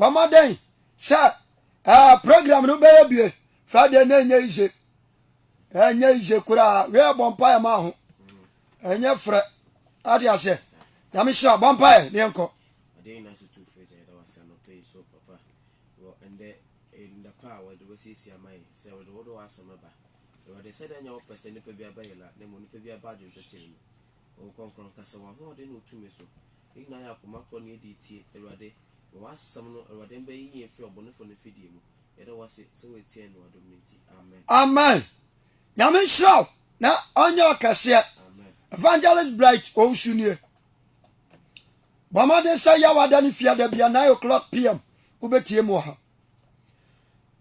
Bɔ mmɔden sɛ ɛɛ program no bɛyɛ bie Friday na ɛnyɛ yize ɛnyɛ yize koraa wei ɛbɔ mpaeɛ ma ho ɛnyɛ frɛ ade aseɛ nyame hyira bɔ mpaeɛ ne yɛnkɔ Honhom Kronkron kasa wɔ ahoɔden ne wo tumi so. Yɛn nyinaa yɛ akoma korɔ ne yɛdie tie, Awurade. Ma w'asɛm no, Awurade, mbɛyi yɛn firi ɔbɔnefo no mfidie mu. Yɛda wo ase sɛ wo atie yɛn ne w'adom no nti. Amen. Amen Nyame nhyira wo na ɔnyɛ ɔkɛseɛ. Evangelist Bright Owusu nie. Bɔ mmɔden sɛ Yaw ada ne fie ada bia 9 o'clock PM wobɛtie mu wɔ ha.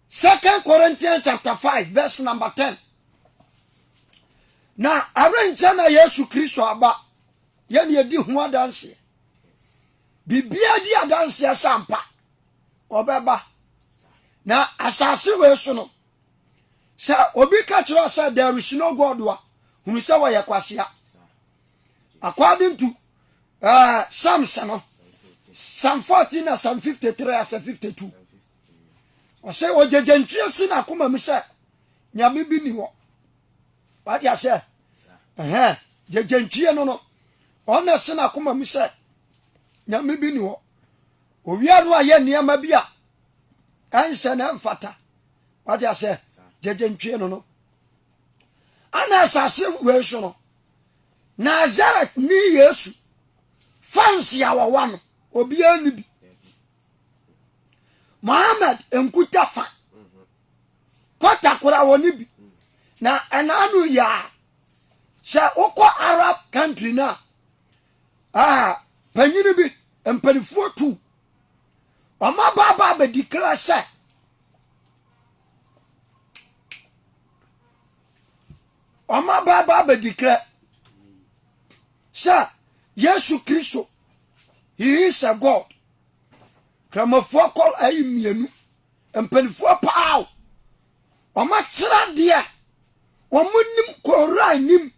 Second Corinthians chapter 5 verse number 10. Na ɛrenkyɛ na Yesu Kristo aba yɛne yɛdi ho adanseɛ. Biribiara di adanseɛ sɛ ampa ɔbɛba. Na asase wei so no, sɛ obi ka kyerɛ sɛ there is no God a, hunu sɛ wɔyɛ kwasea. According to uh, Psalms no, Psalm 14 na Psalm 53 asa 52. Ɔsɛ ɔgyagya ntwi asi na akoma mu sɛ nyame bi ni hɔ. Wate aseɛ? Ɛhɛn, gyagya ntwie no no, ɔna asi na akoma mu sɛ nyame bi ni hɔ. Owia no ayɛ nneɛma bi a ɛnsɛ na ɛmfata. Wate aseɛ? Gyagya ntwie no no. Ana asase wei so no, Nasaret ni Yesu. Fans a wɔwɔ no, obiara nni bi. Mohammed nkuta fa. Kɔta koraa wɔne bi. Na ɛnaano yi a, sɛ wokɔ Arab country no a, panyini bi, mpanifoɔ tu. Wɔn abaabaa bɛdi kra sɛ Wɔaba aba abɛdi krɛ sɛ Yesu Kristo, he is a God. Kramofoɔ kɔ ayi mmienu, mpanimfoɔ paa o. Wɔakyerɛ deɛ wɔn nim kɔɔra nim.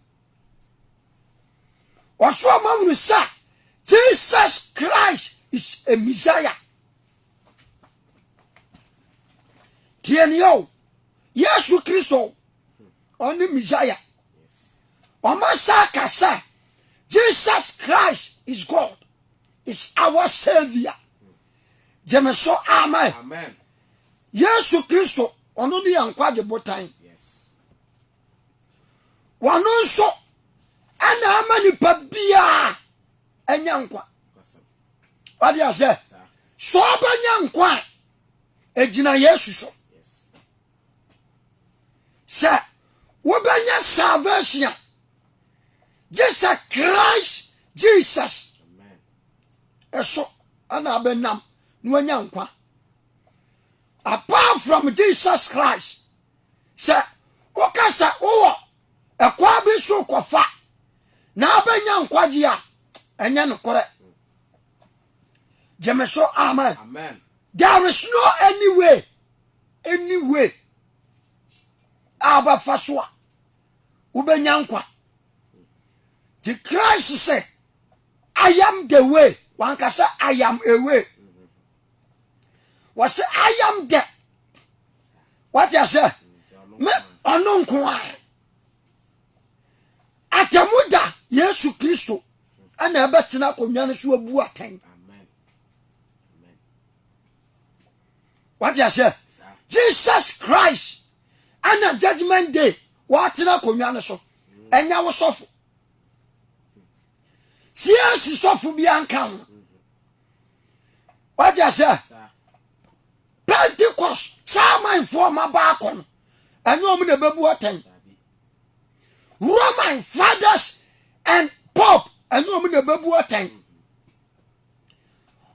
Wɔso wɔn ahunu sɛ Jesus Christ is a Messiah. Tiɛni o, Yesu Kristo ɔne Messiah. Wɔasa aka sɛ Jesus Christ is God is our Savior. Gye me so, amen. amen. Yesu Kristo, ɔno ne yɛn nkwagye botan. Wɔno nso ɛna ama nipa biara anya nkwa. Wade asɛ, sɛ ɔbɛnya nkwa a, ɛgyina Yesu so. sɛ wobɛnya salvation a gye sɛ christ jesus ɛso ɛna abɛnam na wanya nkwa apart from jesus christ sɛ woka sɛ wowɔ ɛkwa bi so kɔfa na abɛnya nkwagye a ɛnyɛ nokorɛ gyeme so amen There is no any way, any way a wobɛfa so a wobɛnya nkwa. Nti Christ sɛ, I am the way, wanka sɛ I am a way. Wɔsɛ I am the, wate asɛ, me ɔno nko a. Atamu da Yesu Kristo ɛna ɛbɛtena akonnwa no so abu atɛn. wate aseɛ jesus christ ɛna judgment day wɔatena akonnwa no so ɛnyɛ wo sɔfo cac sɔfo bi anka ho wate aseɛ pentecost saa amanfoɔ ma baakɔ no ɛnyɛ wɔn na ɛbɛbu atɛn roman fathers and pope ɛnyɛ wɔn na ɛbɛbu atɛn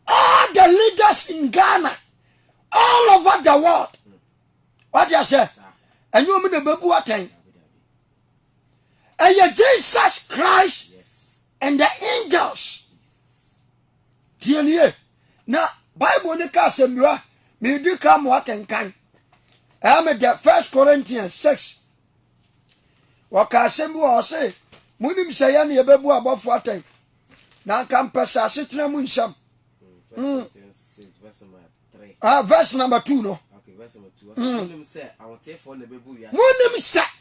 all the leaders in ghana all over the world wade aseɛ ɛnyɛ ɔmo na ɛbɛbu atɛn ɛyɛ jesus christ and the angels tiɛnie na bible ne ka asɛmdua medi ka mo akenkan ɛme the first corinthians 6 wɔka asɛm bi wɔ ɔse monim sɛ yɛne yɛbɛbu abɔfo atɛn na anka mpɛ sɛ asetena mu nsɛm mm. ah, verse number two no mm. monim sɛ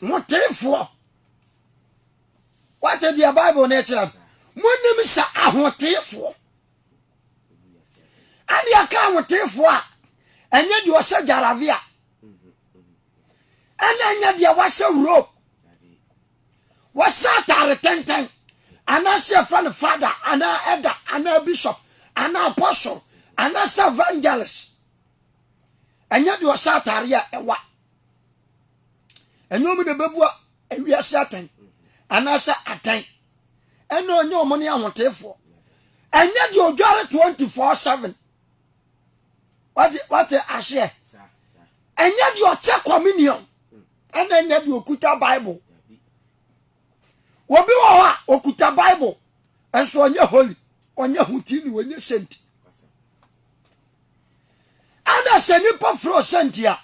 ahoteefoɔ wate deɛ bible no kyerɛ no monim sɛ ahoteefoɔ ɛne ɛka ahoteefoɔ a ɛnyɛ deɛ ɔhyɛ gyarave a ɛna ɛnyɛ deɛ wahyɛ rope Wɔhyɛ atare tenten, anaasɛ yɛfrɛ no father anaa elder anaa bishop anaa apostle anaasɛ evangelist. Ɛnyɛ deɛ ɔhyɛ atare a ɛwa. Ɛnyɛ wɔn na ɛbɛbua ewiase atɛn anaasɛ atɛn. Ɛna ɔnyɛ wɔn ne ahoteefoɔ. Ɛnyɛ deɛ ɔdware 24/7. wate wate aseɛ ɛnyɛ deɛ ɔkyɛ communion ɛna ɛnyɛ deɛ ɔkuta bible obi wɔ hɔ a ɔkuta bible ɛnso ɔnyɛ holy ɔnyɛ hotini ɔnyɛ senti ɛna sɛ nipa firi ɔsenti a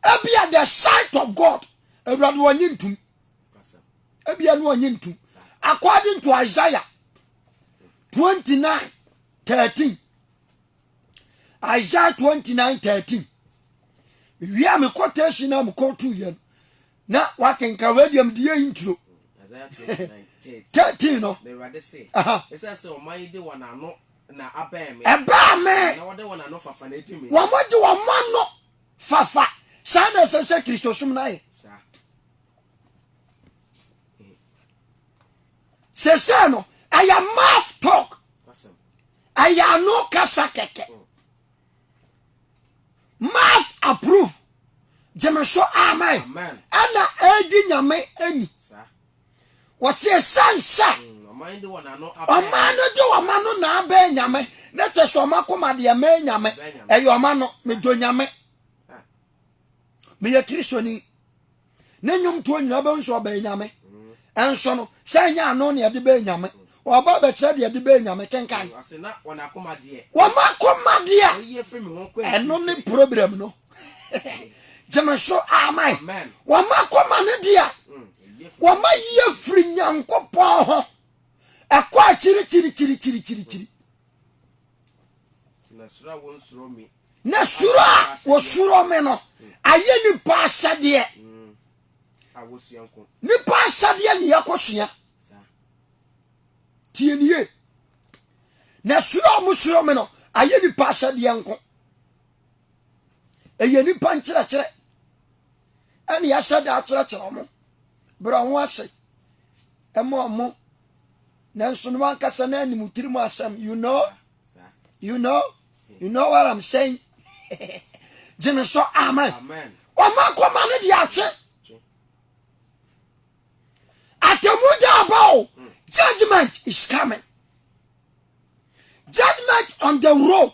ebia the sight of god awurade ɔnye ntum ebia no ɔnye ntum according to isaiah 29 13 Isaiah 29 13. Mewie a me quotation na me quote yɛn. Na wakenka wei deɛ mede yɛ intro. 13 no. Ɛbaa me. Wɔmode wɔn ano fafa. Saa na ɛsɛ sɛ Kristosom no ayɛ. Sɛsɛ no, ɛyɛ mouth talk. Ɛyɛ ano kasa kɛkɛ. Math approve. Gyeme so amen. Ɛna ɛdi nyame ɛni. Wɔsi ɛsan sɛ. Ɔman de wɔn ano abɛn. Ɔman no de wɔn ano na abɛn nyame. Ne kyɛ sɛ ɔma koma deɛ mɛn nyame. Ɛyɛ ɔma no. Medo nyame. Meyɛ kristoni. Ne nnwomtoɔ nyina wobɛhu sɛ ɔbɛyɛ Nyame. Nso no, sɛ ɛnyɛ ano na yɛde bɛyɛ Nyame, ɔba abɛkyerɛ deɛ yɛde bɛyɛ Nyame, kenkan. Wɔn akoma deɛ, ɛno ne problem no. Gyeme so, amen. Wɔn akoma no deɛ, wɔn ayie firi Nyankopɔn ho. Ɛkɔ akyiri kyiri kyiri kyiri kyiri kyiri. Na suro a wɔsuro me no ayɛ nnipa ahyɛdeɛ. Nnipa ahyɛdeɛ ne yɛkɔsua. Tie ne yie. Na suro a wɔsuro me no ayɛ nnipa ahyɛdeɛ nko. Ɛyɛ nnipa nkyerɛkyerɛ ɛne yɛahyɛ da akyerɛkyerɛ wɔn berɛ ho ase ɛma wɔn nanso no ankasa na anim tirim asɛm you know you know you know what i'm saying gye me so amen ɔma kɔma no de atwe atamu da aba o mm. judgment is coming judgment on the road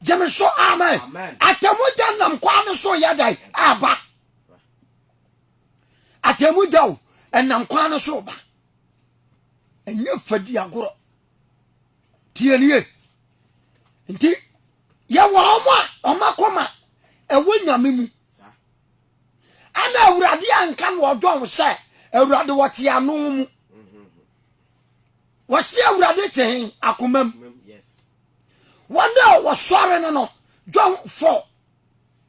gye me so amen atamu da nam kwan no so yɛ dan aba Atemmu da o, ɛnam kwan no so ba. Ɛnyɛ fadi agorɔ. Tie nie. Nti, yɛwɔ wɔn a wɔn akoma ɛwɔ nyame mu. Ana awurade anka no ɔdɔn sɛ awurade wɔte ano mu. Wɔsi awurade te hen akoma mu. Wɔn a wɔsɔre no no, John 4.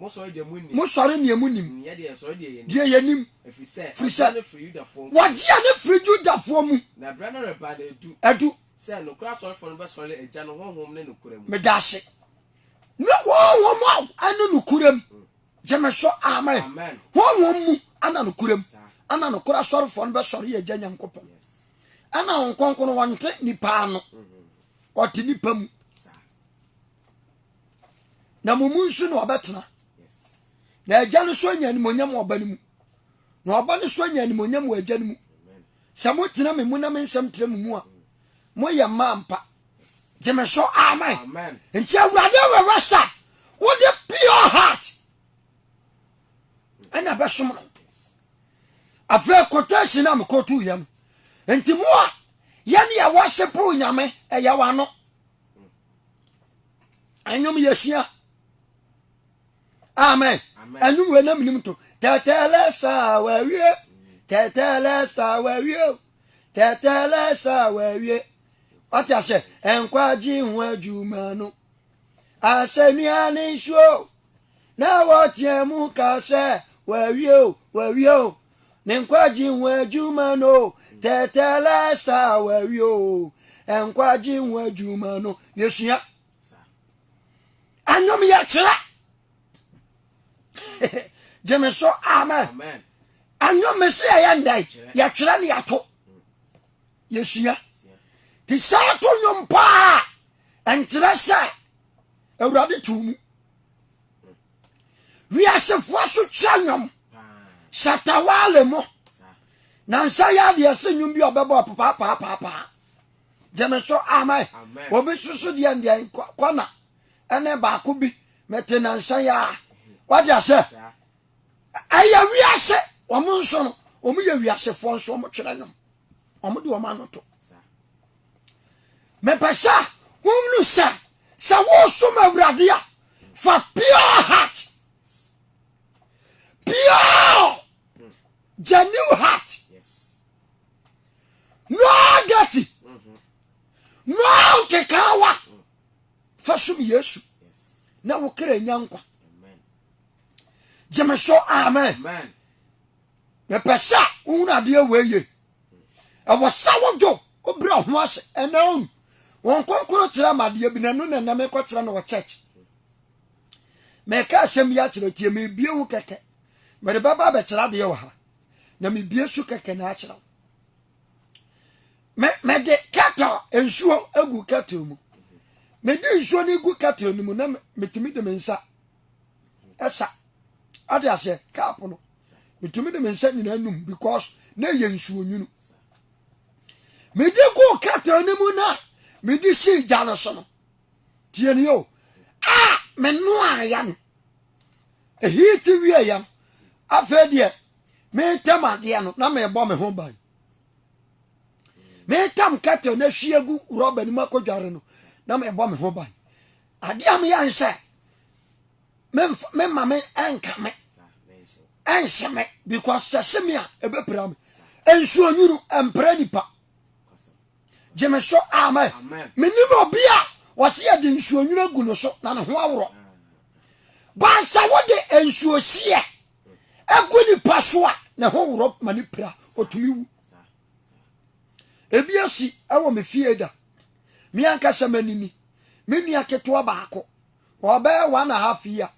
Mosɔre deɛ monim, deɛ yɛnim, ɛfiri sɛ wɔgye ɛno firi Yudafoɔ mu, na berɛ no reba na ɛdu, ɛdu sɛ nokorɛ asɔrefoɔ no bɛsɔre Agya no Honhom ne nokorɛ mu. Meda ase. Ne Honhom a ɛne nokorɛ mu. Mm. Gye me so, amen. Amen. Honhom mu ɛna nokorɛ mu. Ɛna nokorɛ asɔrefoɔ no bɛsɔre Agya Nyankopɔn. Ɛna Honhom Kronkron wɔnte nipa ano, mm-hmm. ɔte nipa mu. na mo mu nso na ɔbɛtena na agya no so anya animonyam wɔ ɔba no mu na ɔba no so anya animonyam wɔ agya no mu sɛ motena me mu na me nsɛm tena mo mu a moyɛ mma ampa gye me so amen nti awurade awɛwɛ sa wode pure heart ɛna bɛsom no afei quotation na mekɔto yɛ no nti mo a yɛne yɛwɔ sepo nyame ɛyɛ wano ɛnwom yɛsua amen ɛnwom wei na menim to tɛtɛlɛ saa wawie tɛtɛlɛ saa wawie o tɛtɛlɛ saa wawie wate ahyɛ nkwagye ho adwuma no asɛnnua ne nsuo na wɔteɛ mu ka sɛ wawie o wawie o Ne nkwagye ho adwuma no tɛtɛlɛsa wawi o nkwagye ho adwuma no yɛsua anom yɛkyerɛ gyeme so amen anom me se yɛyɛ ndɛn yɛtwerɛ ne yɛto yɛsua te saa to nwom paa ɛnkyerɛ sɛ awurade too mu wiasefoɔ so kyerɛ nnwom shatawale mo na nsa yɛ adeɛ se nnwom bi ɔbɛbɔ papapaapaapaa gye me so amen obi soso deɛ ndeɛ kɔna ɛne baako bi mete nansa yɛ a wate asɛ ɛyɛ wiase wɔn nso no wɔn yɛ wiasefoɔ nso wɔn kyerɛ nnwom wɔn de wɔn ano to mepɛ sɛ wɔhunu sɛ sɛ wosom awurade a fa pure heart pure genuine heart no dirty no nkekaawa fa som yesu na wo kra nya nkwa gyeme so amen Mepɛ sɛ wohunu adeɛ wei ye. Ɛwɔ sɛ wodwo wobrɛ ho ase ɛna on wɔn kronkron kyerɛ ma adeɛ bi na ɛno na ɛnam ɛkɔ kyerɛ no wɔ church. Mɛka asɛm bi akyerɛ tie mebie ho kɛkɛ. Mede bɛba bɛkyerɛ adeɛ wɔ ha na mebie so kɛkɛ na akyerɛ wo. Mede kettle nsuo egu kettle mu. Mede nsuo no gu kettle no mu na metumi de me nsa ɛsa ade aseɛ kaapo no metumi de me nsa nyinaa num because na ɛyɛ nsuo nwunu mede guu kɛtɛn no mu no a mede sii gya no so no tie ne o a menoaeɛ no ɛhii te wieeɛ no afei deɛ metam adeɛ no na mebɔ me ho ban metam kɛtɛn no ahwie gu rɔba no mu akɔdware no na mebɔ me ho ban Adeɛ a meyɛ ne sɛ mema me ɛnka me ɛnhyɛ me because sɛ se me a ɛbɛpira me nsuo nwunu ɛmpira nipa gye me so amen menim obi a wɔse yɛde nsuo nwunu agu no so na ne ho aworɔ baasa wode nsuo hyeɛ agu nipa so a ne ho worɔ ma ne pira ɔtumi wu Ebi asi wɔ me fie da. Me ankasa m'anini. Me nua ketewa baako, ɔbɛyɛ one and a half year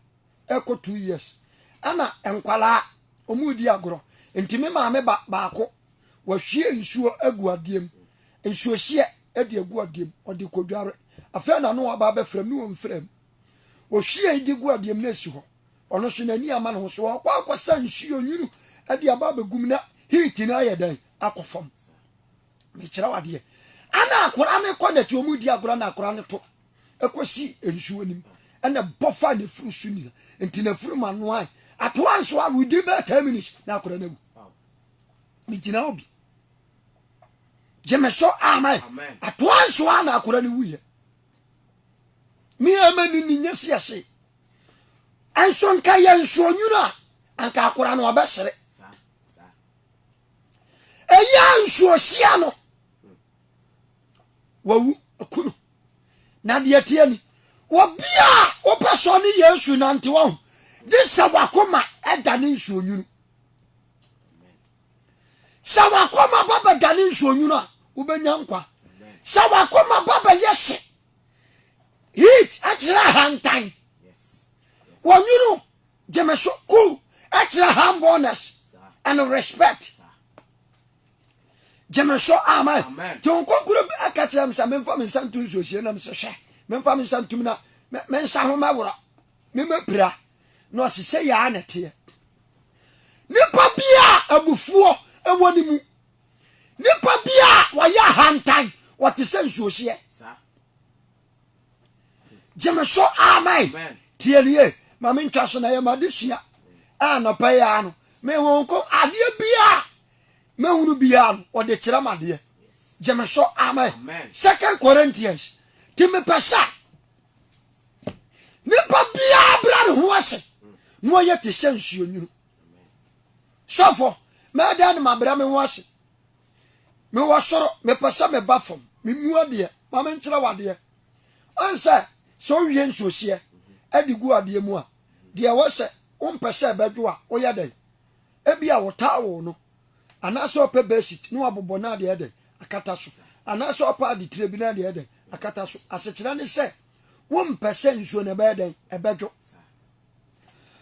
ɛkɔ two years. Ɛna nkwadaa, wɔredi agorɔ. Nti me maame ba baako, wahwie nsuo agu adeɛ mu. Nsuohyeɛ de agu adeɛ mu, ɔde kɔdware. Afei na no aba abɛfrɛ me wɔ mfrɛ mu. Ohwiee de guu adeɛ mu na ɛsi hɔ. Ɔno nso n'ani amma ne ho so. Ɔkɔ akɔsa nsuo onwunu de aba abɛgu mu na heat no ayɛ dɛn? Akɔ fam. Mekyerɛ wo adeɛ. Ɛna akwadaa no kɔ nɛte wɔn di agorɔ na akwadaa no to kɔsi nsuo no mu ɛna bɔ fa n'afuru so nyina nti n'afuru ma noae atoa nso a within bɛɛ ten minutes na akora no awu megyina obi gyeme so amen atoa nso a na akora no wuyɛ ne ama ne ne nya si ase ɛnso nka yɛ nso onwunu a anka akora no ɔbɛsere ɛyɛ a nso ɔhyia no wawu aku no na deɛ teɛ ni wɔbia a wopɛ sɛ ɔne yesu nante waho gye sɛ wakoma ɛda ne nsuo nwunu Sɛ w'akoma ba bɛdane nsuonwunu a, wobɛnya nkwa. Sɛ w'akoma ba bɛyɛ hye, heat, ɛkyerɛ ahantan. Wɔnwunu gye me so, cool, ɛkyerɛ humbleness and respect. Gye me so, amen. Nti wo kɔnkoro bi ɛka kyerɛ me sɛ memfa me nsa nto nsuosie nam sɛ hwɛ, memfa me nsa ntom na me nsa ho mɛworɔ, memɛpira. Na ɔse sɛ yɛa na ɛteɛ. Nipa bi a abufuo wɔ ne mu. Nipa bi a wɔyɛ ahantan, wɔte sɛ nsuohyeɛ. Gye me so, amen. Tie no yie, ma me ntwa so na yɛ ma de sua. Anɔpa yi ara no, me ho nko adeɛ bi a mehunu bi ara no, ɔde kyerɛ ma adeɛ. Gye me so, amen. Second Corinthians, ti me pɛ sa. Nipa biara bra ne ho ase na ɔyɛ te sɛ nsuonwunu. Sɔfo, mɛdan ne mabrɛ me ho ase. Mewɔ soro, mepɛ sɛ meba fam. Memu adeɛ, ma menkyerɛ wadeɛ. Ɔn sɛ, sɛ wowie nsuohyeɛ ɛde gu adeɛ mu a, deɛ ɛwɔ sɛ wompɛ sɛ ɛbɛdwo a, woyɛ dɛn? Ebia wotaa wo no, Anaasɛ ɔpɛ bedsheet na wabobɔ na ade ayɛ dɛn? Akata so. Anaasɛ ɔpɛ ade tire bi na ade ayɛ dɛn? Akata so. Asekyerɛ ne sɛ, wompɛ sɛ nsuo no ɛbɛyɛ dɛn? Ɛbɛdwo.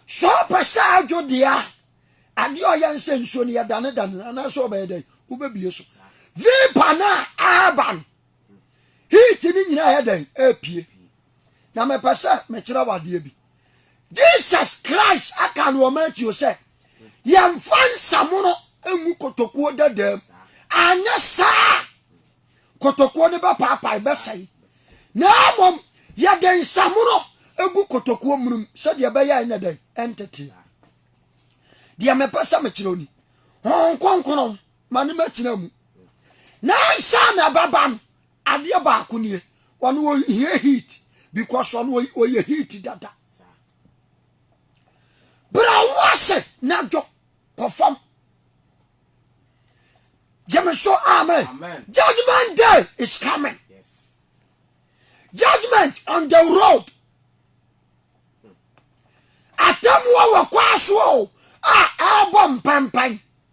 Sɛ ɔpɛ sɛ adwo deɛ a, adeɛ a ɔyɛ ne sɛ nsuo no yɛdanedane no anaasɛ ɔbɛyɛ dɛn? Wobɛbie so. Vapor no a ɛreba no, heat no nyinaa yɛ dɛn? Ɛrepie. Na mepɛ sɛ mekyerɛ wo adeɛ bi. Jesus Christ aka no wɔ Matthew sɛ, Yɛmfa nsamono ngu kotokuo dadaa mu, anyɛ saa kotokuo no bɛpaapae bɛsɛe, na mmom yɛde nsamono gu kotokuo munum sɛdeɛ ɛbɛyɛ ɛnyɛ dɛn ɛntete. Deɛ mepɛ sɛ mekyerɛ ni, Honhom Kronkron ma no mɛtena mu. Na ansa na ɛbɛba no, Adeɛ baako nie ɔno ɔhia heat because ɔno ɔyɛ heat dada bra wo ase na dwo kɔfam gyeme so amen judgment day is coming judgment on the road atemmuo wɔ kwaa soɔ a ɛbɔ mpɛmpɛn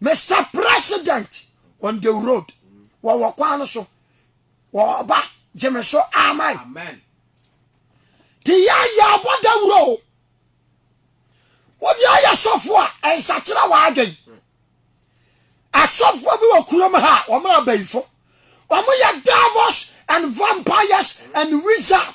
Mister President on the road wɔwɔ kwan no so wɔba gye me so amen. Amen. te yɛ yɛ abɔ dawuro o wode ayɛ sɔfo a ɛnsakyera w'adwen asɔfoɔ bi wɔ kurom ha wɔn a bayifo wɔn yɛ devils and vampires and wizard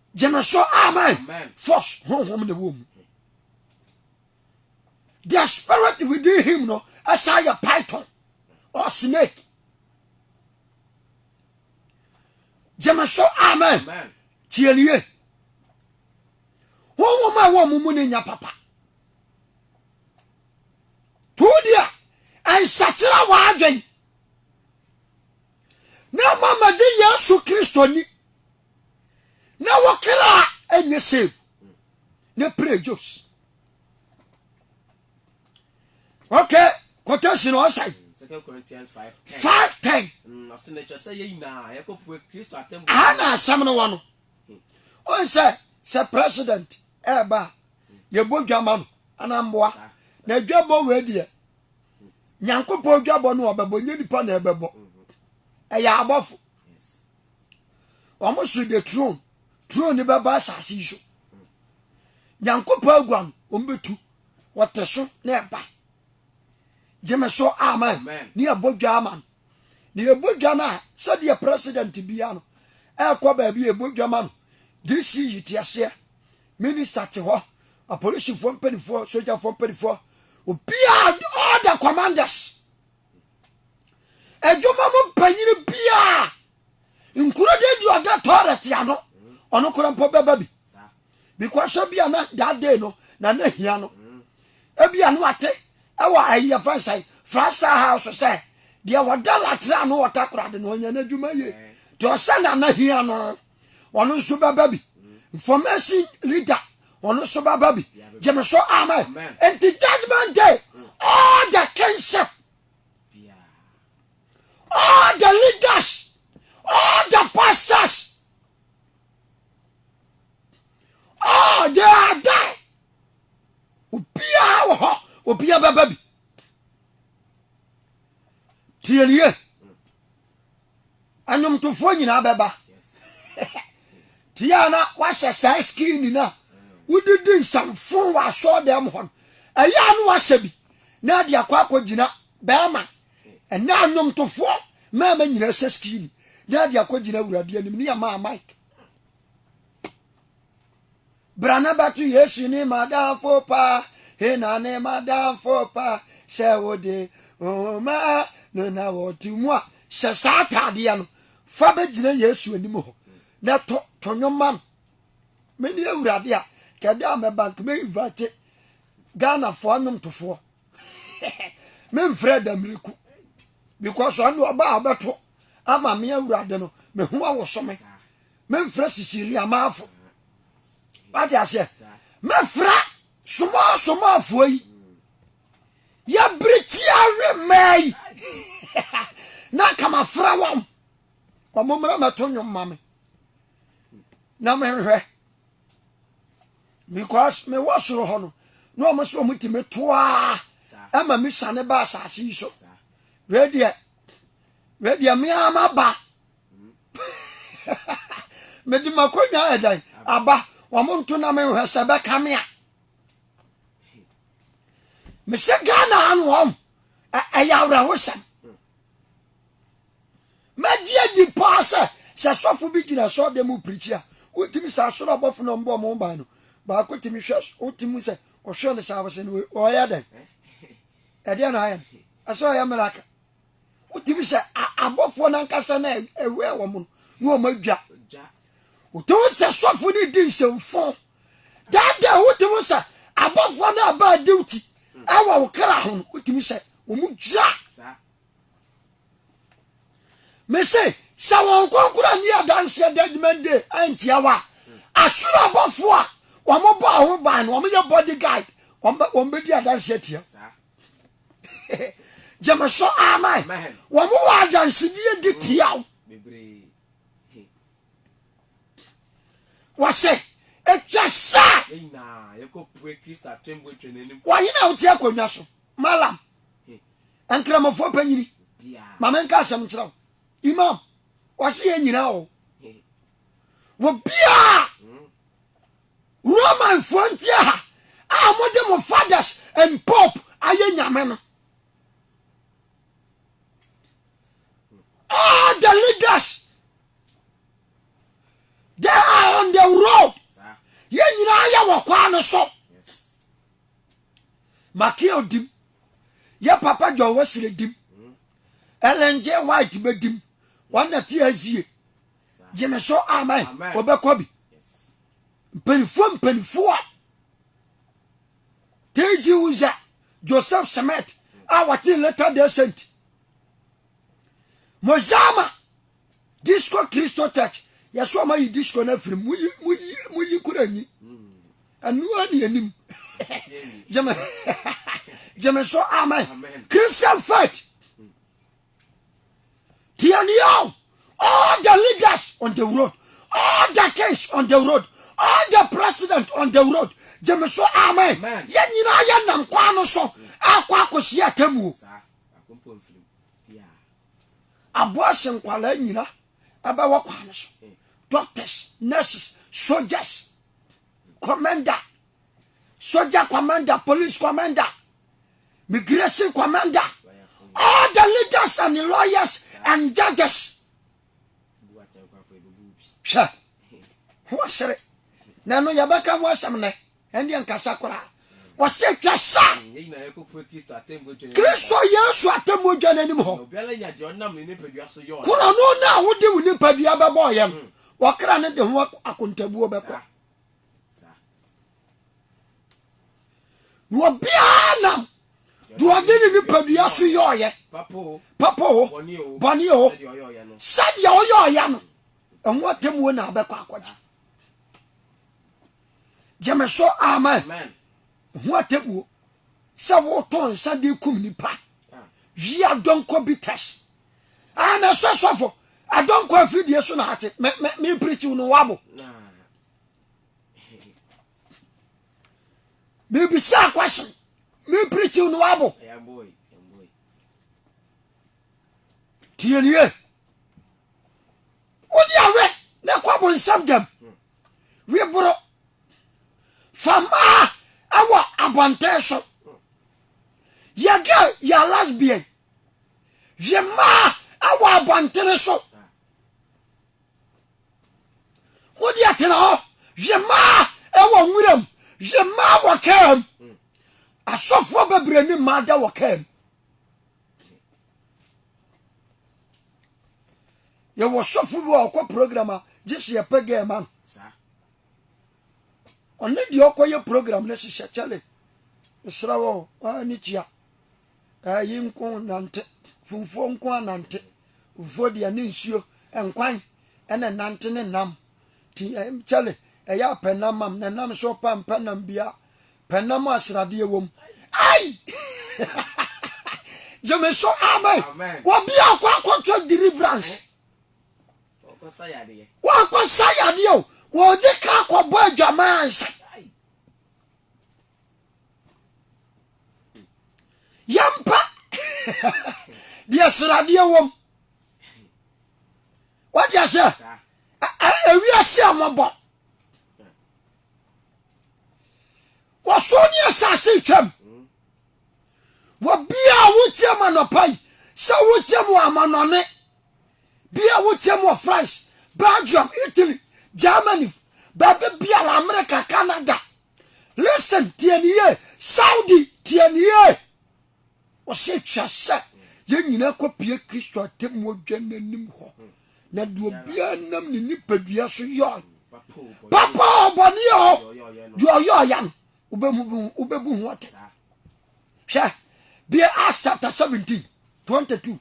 gyeme so amen force honhom na ɛwɔ mu the spirit within him no ɛsan yɛ python or snake gyeme so amen tie ne yie honhom a ɛwɔ mu mu ne nya papa tuo deɛ ɛnsakyera w'adwen na ama magye Yesu Kristo ni, na wo kra ɛnyɛ save ne pray jobs. Okay, quotation ɔsan. Second Corinthians five ten. Five ten. Mm, ɔsɛ na ɛkyɛ sɛ yɛ nyinaa yɛkɔ pue Kristo atɛmbu. Aha na asɛm no wɔ no. Wɔn hmm. sɛ sɛ president ɛɛba a yɛbɔ dwa ma no anamboa na dwa bɔ wei deɛ nyankopɔn dwabɔ no ɔbɛbɔ nyɛ nipa na ɛbɛbɔ ɛyɛ abɔfo wɔn so de tron tron ne bɛba asase yi so nyankopɔn agua no wɔn bɛtu wɔte so na ɛba gyeme so amen ne yɛbɔ dwa ama no na yɛbɔ dwa no a sɛdeɛ president bia no ɛkɔ baabi a yɛbɔ dwa ma no dc yi te aseɛ Minister te hɔ, apolisifoɔ mpanimfoɔ, sogyafoɔ mpanimfoɔ, obiara, all the commanders. Adwuma mu mpanyini biara, nkuro de di ɔda tɔɔrɛ te ano, ɔno kora mpo bɛba bi. Because ebi a na that day no, na na hia no. Ebi a no ate, ɛwɔ ayi yɛ fɛn sɛn, Frasta House sɛ, deɛ wɔda latra ano wɔ takoradi no, ɔnyɛ n'adwuma yie. Te ɔsɛ na na hia no. ɔno nso bɛba bi information leader ɔno nso bɛba bi gyeme so amen nti judgment day all the kingship all the leaders all the pastors all they are there obiara wɔ hɔ obiara bɛba bi tiɛniɛ Nnwomtofoɔ nyinaa bɛba. Tia na wahyɛ saa skini no a wode di nsamfo wɔ asɔɔdɛm hɔ no. Ɛyɛ a na wahyɛ bi na ade akɔ akɔgyina bɛrima. Ɛnɛ nnwomtofoɔ mmarima nyinaa hyɛ skini na ade akɔgyina awurade anim ne yɛmaa Mike. Bra na bɛto Yesu ne m'adamfo pa, he na ne m'adamfo pa, sɛ wode nhoma no na wɔto mu a. Hyɛ saa ataadeɛ no, fa bɛgyina Yesu anim hɔ, na to, to nnwom ma no. Mene Awurade a, kɛ da a mɛba nka mɛ invite Ghanafoɔ nnwomtofoɔ. me mfrɛ Adamreku, because ɔno ɔba a ɔbɛto ama me Awurade no, mɛ ho awoso me. Memfrɛ Sicilia manfo. Wate aseɛ? Mɛfrɛ small small foɔ yi. Yɛbirikyi awe mmaa yi. Na nka mafrɛ wɔn. Wɔn mmerɛ mɛto nnwom ma me. Na menhwɛ. Because mewɔ soro hɔ no. Na wɔn so wɔn ti me toaa. Ɛma me sane ba asase yi so. Wei deɛ. Wei deɛ meama ba. mede m'akonnwa ayɛ dan aba wɔn nto na menhwɛ sɛ bɛka me a mesɛ ghana ha no wɔm ɛyɛ awerɛhosɛm mɛgye adi paa sɛ sɛ sɔfo bi gyina sɛ ɔde mu pirikyi a wotumi sɛ asoro abɔfo na ɔmbɔ ɔmo ban no baako tumi hwɛ wotumi sɛ ɔhwɛ no sɛ abɛsɛ no ɔyɛ dɛn ɛdeɛ na ayɛ no ɛsɛ ɔyɛ miracle wotumi sɛ abɔfoɔ no ankasa no ɛwɛ wɔn no na wɔn adwa wotumi sɛ sɔfo no di nsɛmfo daadaa wotumi sɛ abɔfoɔ no aba adiwti ɛwɔ wo kra ho no wotumi sɛ wɔn dwa mese sɛ wɔn kɔnkora ne adanseɛ judgment day antia wa asoro abɔfoɔ a wɔn bɔ ho ban no wɔn yɛ body guide wɔn bɛdi adanseɛ tia. Gyeme so amen. Wɔn wɔ adansedie di tia wo. Wɔse ɛtwa sɛ wɔhene a wote akonnwa so malam nkramofoɔ panyini ma menka asɛm nkyerɛ wo imam wɔse yɛ nyinaa o wɔ biaa Romanfoɔ nteɛ ha a wɔde mo fathers and pope ayɛ nyame no. All the leaders they are on the road. Yɛn nyinaa yɛ wɔ kwaa no so. Makia odim. Yɛ papa John Wesley dim. Ellen G. White bɛdim. Wɔn na te azie. gyeme so amen wɔbɛkɔ bi mpanimfoɔ mpanimfoɔ a tg uza joseph smith a wɔte later day saint mozama disco christo church yɛsɛ ɔma yi disco no afiri mu moyi kora nyi ɛnoa ne anim gyeme so amen christian faith Deɛ ni o, all the leaders on the road, all the kings on the road, all the president on the road, gye me so amen. Yɛn nyinaa yɛ nam kwan no so akɔ akɔhyia atemmuo. Aboase nkwadaa nyina ɛbɛwɔ kwan no so, doctors, nurses, soldiers, commander, soja commander, police commander, migration commander, all the leaders and the lawyers and judges. Hwɛ, ho asere. Na ɛno yɛbɛka ho asɛm nɛ, ɛndeɛ nkasa koraa. Wɔsɛ twa sa. Kristo Yesu atemmuo dwa n'anim hɔ. Korɔno no a wode wo nipadua bɛbɔɔyɛ no, wɔkra no de ho akontabuo bɛkɔ. na obiara nam deɛ ɔde ne nipadua so yɔɔyɛ papa o bɔne o sɛdeɛ ɔyɔɔyɛ no ɛho atemmuo na abɛkɔ akɔgye gyeme so amen ɛho atemmuo sɛ woto nsa de kum nipa wia dɔnkɔ bi tɛs Ah, na ɛsɛ sɔfo. Adɔ nkɔ afiri die so na ate. Me, me, me preachiw no wabo. Me bisa question. Me preachiw no wabo. Tie nie. Wodi awe na kɔ bo nsam jam. Hmm. We boro. Fama awa abante so. Hmm. Yege ya lesbian. hwe mmaa awɔ abɔntene so wode atena hɔ hwe mmaa ɛwɔ nweram hwe mmaa wɔ kaa mu asɔfoɔ bebree ne mmaa da wɔ kaa mu yɛwɔ sɔfo bi a ɔkɔ program a gye sɛ yɛpɛ gɛɛ ma no ɔne deɛ ɔkɔyɛ program no hyehyɛ kyɛle mesrɛ wɔ ne tua Ɛɛ yi nko nante, funfuo nko ara nante, funfuo deɛ ne nsuo, nkwan ɛna ɛnante ne nam. Ti ɛm eh, kyɛle ɛyɛ apɛ nam mam, ne nam so pa mpɛ nam bia, pɛ nam a sradeɛ wom. Ai! Gyeme so amen. Wɔbi a ɔkɔ akɔtɔ deliverance. Wɔkɔ sa yadeɛ o, wɔde ka akɔbɔ adwaman ansa. yɛmpa deɛ sradeɛ wɔm wate aseɛ ewiase a mɔbɔ wɔso ne asase twam wɔbia a wotiam anɔpa yi sɛ wotiam wɔ amanɔne bia wotiam wɔ france belgium italy germany baabi biara america canada Listen, tie ne yie. Saudi, tie ne yie. Wɔsɛ twa sɛ yɛn nyinaa kɔpie Kristo atemmuo dwa no anim hɔ. Na deɛ obiara nam ne nipadua so yɔe. Papa o, bɔne o, deɛ ɔyɔɔyɛ no, wobɛbu ho atɛn. Hwɛ, bia Acts chapter 17, 22.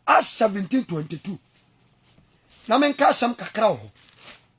Acts 17, 22. Na menka asɛm kakra wɔ hɔ.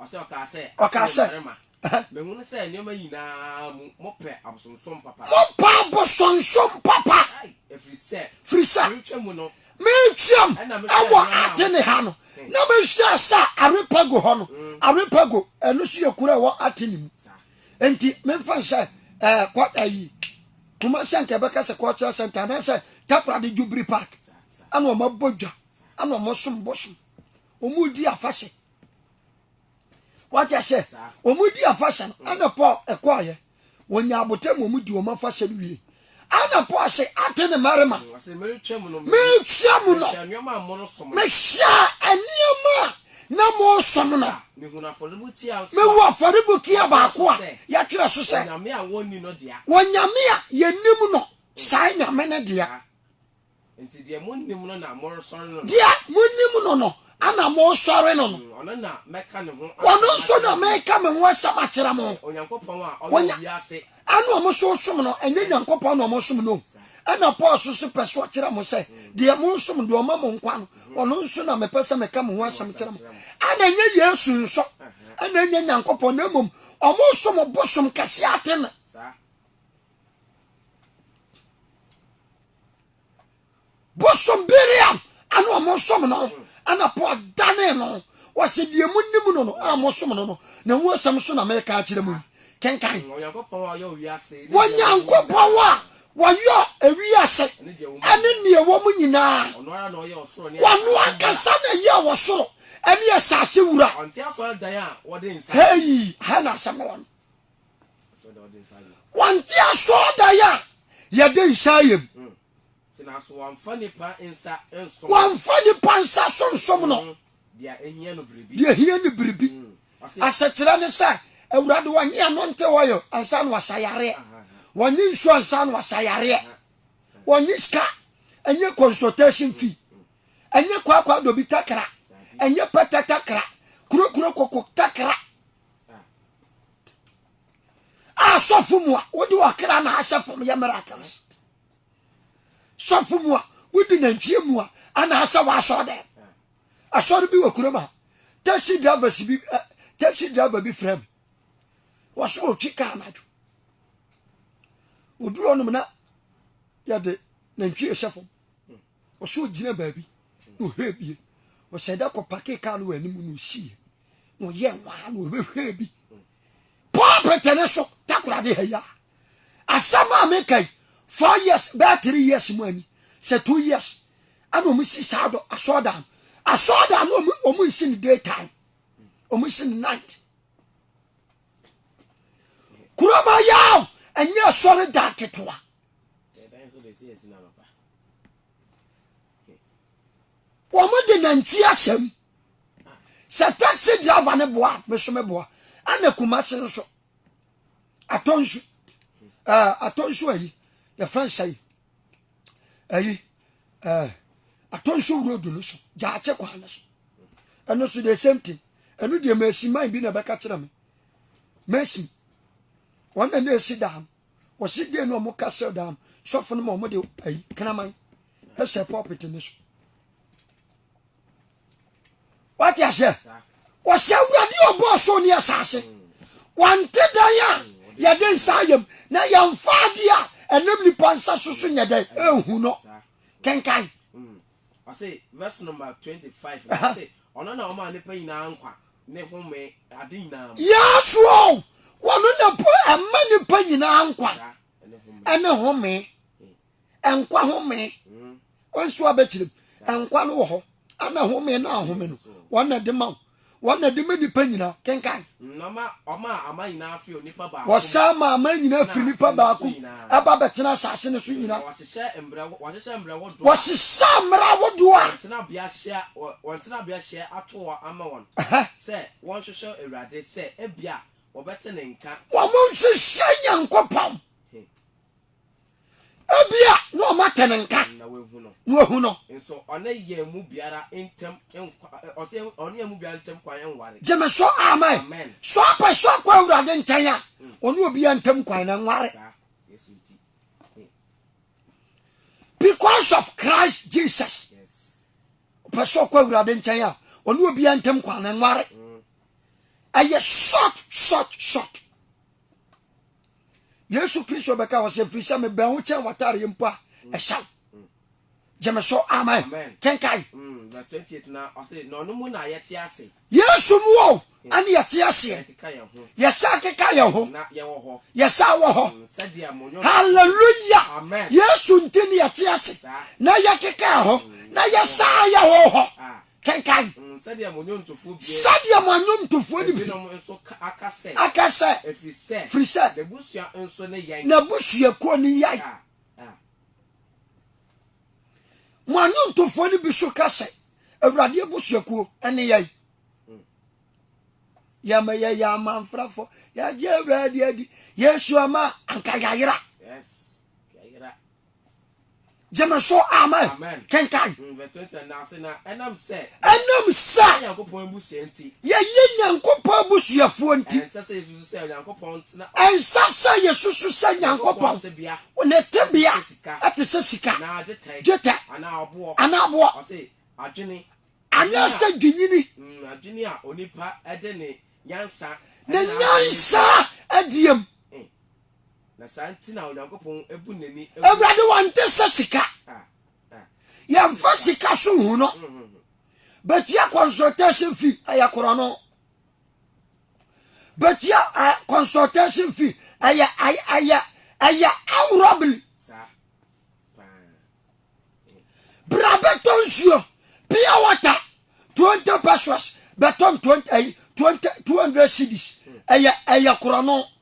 Ɔkaa sɛ, Ɔkaa sɛ, Aha. Mehunu sɛ nneɛma nyinaa mu mopɛ abosonsom papa. Mopɛ abosonsom papa. Ɛfiri sɛ. Firi sɛ. Meretwa mu no. Meretwam wɔ Atene ha no, na mehwɛɛ sɛ Areopago hɔ no, Areopago, ɛno nso yɛ kuro a ɛwɔ Atene mu. Enti memfa no sɛ ɛɛ kɔ ayi Kumasi anka ɛbɛka sɛ cultural center anaasɛ Takoradi Jubilee Park. Ɛna wɔabɔ dwa, ɛna wɔsom bosom, wɔredi afahyɛ. wate ahyɛ wɔn di afahyɛ no ɛna paul ɛkɔɔyɛ wɔn nya abotɛ mu wɔn di wɔn afahyɛ no wie ɛna paul se ate ne mmarima metwa mu no mehwɛ nneɛma a na mosom no mehu afɔrebukia baako a yɛtwerɛ so sɛ wɔnyame a yɛnim no saa nyame no deɛ Nti deɛ monnim no na moresɔre no no. Deɛ monnim no no ana moresɔre no no. Ɔno na mɛka ne ho asɛm akyerɛ mo. Ɔno nso na meka me ho asɛm akyerɛ mo. Onyankopɔn a ɔyɛ wiase. Ɛna ɔmo nso resom no, ɛnyɛ Nyankopɔn na ɔmo resom no. Ɛna Paul nso so pɛ sɛ ɔkyerɛ mo sɛ, deɛ moresom, deɛ ɔma mo nkwa no, ɔno nso na mepɛ sɛ meka me ho asɛm kyerɛ mo. Ɛna ɛnyɛ Yesu nso, ɛna ɛnyɛ Nyankopɔn, na mmom ɔmo resom bosom kɛseɛ Atene. bosom biriam ana ɔmo som no ana po adane no wɔsi deɛ mo nim no no a mo som no no na ho asɛm so na meka akyerɛ mo yi kenkan onyankopɔn a wɔyɔ ewiase ɛne nea ɛwɔ mu nyinaa wɔno ankasa na ɛyɛ wɔ soro ɛne asase wura hei ha na asɛm no wɔ no Wante asɔɔdan a yɛde nsa ayɛ mu. Mm. Wamfa nipa nsa nsom. Wamfa nipa nsa so nsom no. Mm. Deɛ ehia no biribi. Deɛ ehia no biribi. Mm. Asekyerɛ ne sɛ awurade wɔnye ano nte hɔ yɛ ansa na wasa yareɛ. Wɔnye nsuo ansa na wasa yareɛ. Wɔnye sika ɛnyɛ consultation mm. fee. Ɛnyɛ kwaakwa dobi takra. Ɛnyɛ pɛtɛ takra. Kurokuro koko takra. a sɔfo mu a wode ɔkra na ahyɛ fam yɛ miracle so sɔfo mu a wode nantwie mu a ana ahyɛ w'asɔ dɛ asɔre bi wɔ kurom a taxi driver bi eh, taxi driver bi frɛ me wɔso ɔtwi kaa anadwo ɔduru ɔnom na yɛde nantwie hyɛ fam Ɔsɛ ɔgyina baabi na ɔhwɛ bie. Ɔhyɛ da kɔ pake kaa no wɔ anim na ɔsiiɛ na ɔyɛ nwaa na ɔbɛhwɛ bi. Pulpit ne so takorade ha yi a asɛm a meka yi four years bɛyɛ three years mu ani sɛ two years ɛna wɔn si saa dɔ asɔɔdan asɔɔdan no wɔn wɔn nsi ne day time wɔn nsi ne night kuroma yaw ɛnyɛ asɔre dan ketewa. Yeah, wɔn de nantwie ahyɛm sɛ taxi driver ne boa me so me boa ɛna kumase nso atɔ nsu ɛɛ atɔ nsu ayi yɛfrɛ nsa yi ayi ɛɛ atɔ nsu road no so gyaakye kwan no so ɛno so the same thing ɛno deɛ mɛsi man bi na ɛbɛka kyerɛ me mɛsi wɔn na na esi dan no. wɔsi dee na wɔn ka sɛ daa no sɔfo no ma wɔn de ayi kraman hyɛ pulpit no so wate aseɛ wɔsɛ awurade ɔbɔ ɔsoro ne asase wɔnte dan a yɛde nsa ayam na yɛmfa adeɛ a ɛnam nipa nsa so so nyɛ dɛn ɛhu no kenkan Ɔse verse number twenty five no ɔse ɔno na ɔmaa nipa nyinaa nkwa ne home ade nyinaa mu. Yes o ɔno na po ɛma nipa nyinaa nkwa ɛne home nkwa home wɔn nso abɛkyerɛ nkwa no wɔ hɔ ɛna home na ahome no wɔn na ɛde ma wo Wɔn na ɛde ma nnipa nyina. Kenkan. Na ma ɔmaa aman nyinaa firi onipa baako mu. Wɔsan maa aman nyinaa firi nnipa baako mu ba bɛtenaa asase no so nyina. Na wɔahyehyɛ mmerɛ, wɔahyehyɛ mmerɛ ahodoɔ a. Wɔhyehyɛ mmerɛ ahodoɔ a. Wɔn tenabea hyɛ, wɔn tenabea hyɛ ato hɔ ama wɔn. Ɛhɛ. Sɛ wɔnhwehwɛ Awurade sɛ ebia wɔbɛte ne nka. Wɔnhwehwɛ Nyankopɔn. He. Ebia na wɔn atɛ no nka na wɔahu no. na wɔahu no. Nso ɔne yɛn mu biara ntam nkwa, ɛ, ɔsɛ yɛn, ɔne yɛn mu biara ntam kwan nware. Gye me so, amen. Amen. Sɛ ɔpɛ sɛ ɔkɔ Awurade nkyɛn a, ɔne obiara ntam kwan no nware. Saa, Yesu nti. He, Because of Christ Jesus. yes. Ɔpɛ sɛ ɔkɔ Awurade nkyɛn a, ɔne obiara ntam kwan no nware. Mm. Ɛyɛ short, short, short. Yesu Kristo bɛka wɔ sɛ mfiri sɛ mebɛn wo kyɛn w'atareɛ mpo a mm. ɛhyɛ wo gye me so amen kenkan mm, yesu mu o mm. ɛne yɛte aseɛ yɛsa keka yɛn ho yɛsa wɔ hɔ halleluya yesu nti ne yɛte ase na yɛkeka yɛ ho na yɛsa yɛ ho hɔ ah. Kenkan. Sɛdeɛ mo nnwomtofoɔ no bi aka sɛ, Ɛfiri sɛ n'abusuakuo no yan. Mo annwomtofoɔ no bi nso ka sɛ, Awurade abusuakuo ne yɛn. Yɛma yɛyɛ amanfrafoɔ, yɛagye Awurade adi, yɛsua ma anka yɛayera. gyeme so amen kenkan mm, ɛnam sɛ yɛyɛ nyankopɔn abusuafoɔ nti ɛnsa sɛ yɛsusu sɛ nyankopɔn ne tebea ɛte sɛ sika dwetɛ anaa boɔ anaasɛ dwenyini mm, ne nyansa adiam eh. Na saa nti na Onyankopɔn bu n'ani ngu. Awurade wɔnte sɛ sika. Ah, ah. Yɛmfa sika so hu no. Mm, mm, mm. Bɛtua consultation fee ɛyɛ korɔno. Bɛtua uh, consultation fee ɛyɛ ɛyɛ ɛyɛ awurɔbili. Bra bɛtɔ nsuo pure water twenty pesos bɛtɔn twenty eh, twenty two hundred cedis ɛyɛ ɛyɛ korɔno.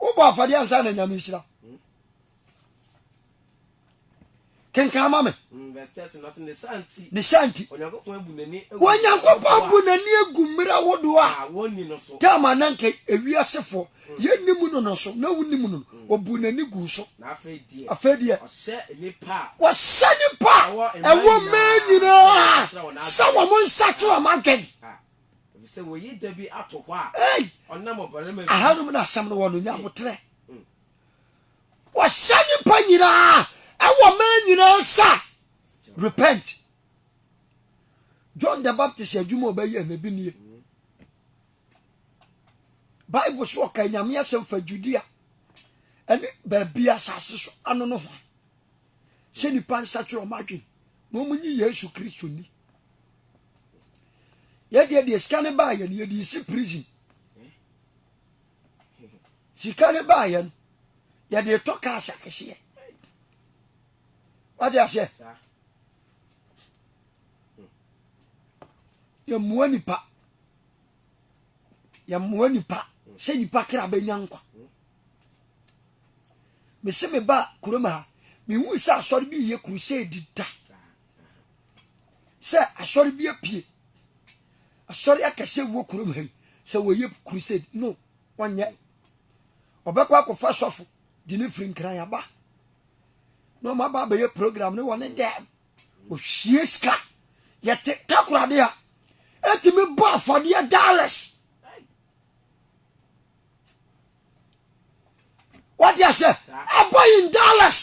wobɔ afɔdeɛ ansa na nyame nhyira kenkan ma me mm, ne sa nti onyankopɔn bu n'ani agu mmerɛ ahodoɔ a tama na nka ewiasefoɔ mm. yɛnnim no no so na wonim no no mm. ɔbu n'ani gu so afei deɛ wɔhyɛ nipa ɛwɔ mmaa nyinaa sɛ wɔn nsa to wɔn adwene ah. Efisɛ wɔayi da bi ato hɔ a ɔnam ɔbarima bi. Aha nom na asɛm no wɔ no, nya aboterɛ. Mm. Wɔhyɛ nnipa nyinaa ɛwɔ mmaa nyinaa nsa. Repent. John the Baptist adwuma a ɔbɛyɛ na ebi nie. Mm. Bible so ɔka Nyame asɛm fa Judea ɛne baabi asase so ano no ho. sɛ nnipa nsakyera wɔn adwene na wɔn nye Yesu Kristo ni. Yɛdeɛ deɛ sika no baa yɛn yɛde si prison. Sika no baa yɛn yɛde tɔ kaas akɛseɛ. Wade aseɛ? Yɛmmoa nipa. Yɛmmoa nipa sɛ nipa kra bɛnya nkwa. mese meba kurom ha mehui sɛ asɔre bi yɛ crusade da sɛ asɔre bi apue asɔre akɛse wɔ kurom ha yi sɛ wɔyɛ crusade no wɔnyɛ ɔbɛkɔ akɔfa sɔfo de ne firi nkran aba na ɔma ba abɛyɛ program ne wɔne dɛm ɔhwie sika yɛte takorade a ɛtumi bɔ afɔdeɛ dollars wate aseɛ ɛbɔ in dollars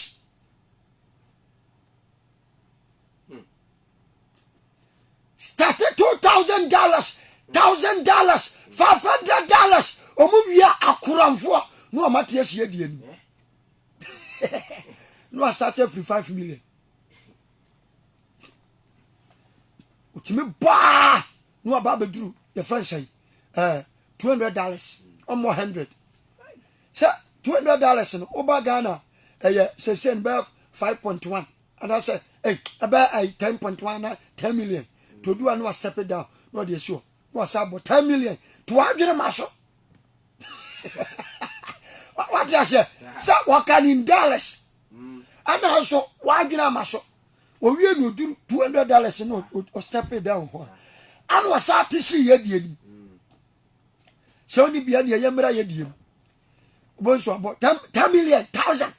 starte two thousand dollars thousand dollars five hundred dollars ɔmo wia akoramfoɔ na ɔmo ate asie deɛ no na wasate afiri five million otumi baa na waba abɛduru yɛfrɛ nsa yi eh, two hundred dollars ɔmmɔ hundred sɛ two hundred dollars no woba Ghana ɛyɛ sɛsɛ no bɛyɛ five point one anaasɛ eh, ɛbɛyɛ ayi ten point one na ten million todu a na wa step it down na ɔde asi hɔ na wasa abɔ ten million to wadwene ma so wate aseɛ sɛ wɔka ne in dollars ɛna nso wadwene ama so Owie no odur two hundred dollars no o step it down hɔ a, ana ɔsan te sii yɛ deɛ nim. Sɛ ɔni bia neɛ yɛ mmra yɛ deɛ mu. Ɔbɔ nso abɔ ten million thousand.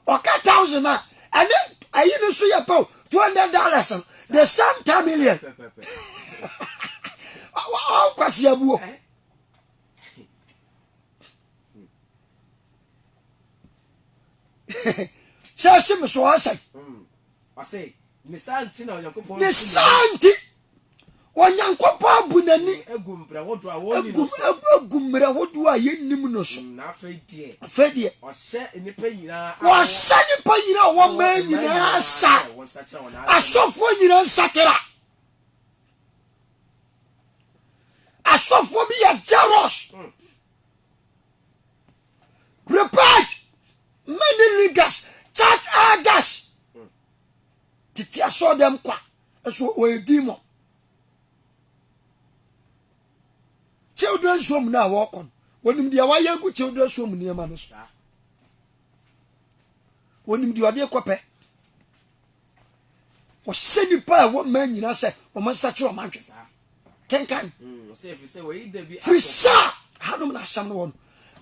Ɔka thousand a ɛne ayi no nso yɛ pɛw two hundred dollars no the same ten million. Ɔkwasi abuo. sɛ ɛhye me so ɔsɛe hmm. ne saa nti onyankopɔn abu n'ani agu mmerɛ hodoɔ a yɛnnim no so hmm, afei deɛ ɔhyɛ nnipa nyinaa wɔmaa nyinaa sa asɔfoɔ nyinaa nsakyera asɔfoɔ bi yɛ jaros hmm. Report many leaders church elders tete asɔ dɛm kwa nso wɔyɛ demon children's home no a wɔkɔ no wɔnim deɛ wɔayɛ agu children's home nneɛma no so wɔnim deɛ ɔde kɔpɛ wɔhyɛ nnipa a ɛwɔ mmaa nyinaa sɛ wɔn nsakyerɛ wɔn adwene kenkan mm, firi sɛ hanom na asɛm no wɔ no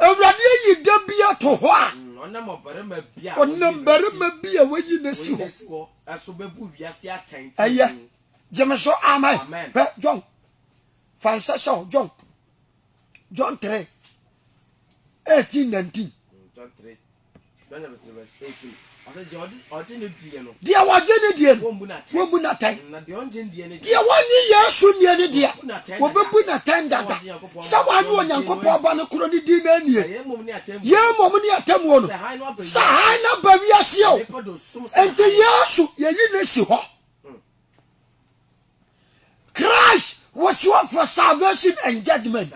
awurade ayi da bi ato hɔ a mm, ɔnam ɔbarima bi a ɔnam barima bi a wayi na si hɔ ɛso bɛbu wiase atɛn ɛyɛ gyeme so amen hwɛ john fa nsɛ sɛ o john john 3 18 19 mm, john 3 Deɛ wɔgye ne deɛ no, wɔmbu no atɛn. Deɛ wɔnnye Yesu nnie no deɛ, wɔbɛbu no atɛn dada sɛ wannye Onyankopɔn Ba no korɔ no din no annie. Yei mmom ne atemmuo no, sɛ hann no aba wiaseɛ o, enti Yesu yɛyi no si hɔ. Christ was sure for salvation and judgment.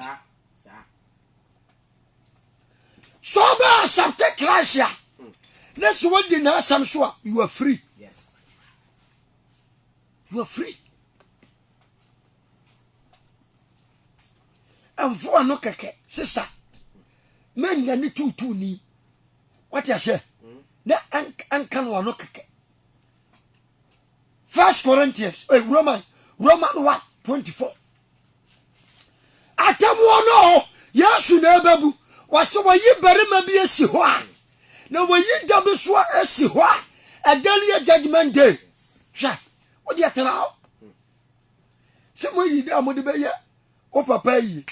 So ɔbɛ accept Christ a na so wadi n'asɛm so a you are free. Yes. You are free. Ɛnfo ano kɛkɛ sista mɛnya ne tuutuu ni wate ahyɛ hmm. na ɛnka no ano kɛkɛ. First Corinthians, eh, Roman, Roman 1, 24. Atemmuo no hɔ, Yesu na ɛbɛbu. Wɔse wɔyi barima bi asi hɔ a, na wɔyi da bi so asi hɔ a, ɛda no yɛ judgment day. Hwɛ, wodeɛ tena hɔ. Sɛ moyi da a mode bɛyɛ wo papa ayie,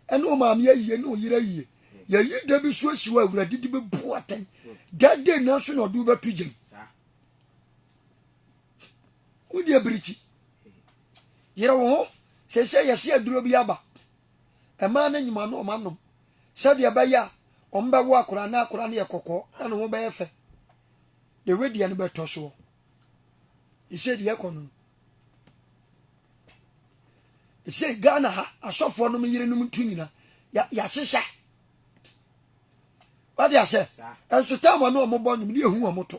ɛne wo maame ayie, ne wo yere ayie. Yɛyi da bi so asi hɔ a, Awurade de bɛbu atɛn. Da day nanso na ɔde wobɛto gyam. Wodi abirikyi. Yere wo ho. Seesei yɛse aduro bi aba. Mmaa no nyim ano wɔanom sɛdeɛ ɛbɛyɛ a wɔbɛwo akwadaa na akwadaa no yɛ kɔkɔɔ na ne ho bɛyɛ fɛ. Deɛ woadiɛ no bɛtɔ soɔ. Ɛsei deɛ ɛkɔ no no. Ɛsei Ghana ha asɔfoɔ nom yerenom ntu nyina yɛahyehya. Wade asɛ? Ɛnso tam wɔn a wɔbɔ nwom ne ɛhu wɔn to.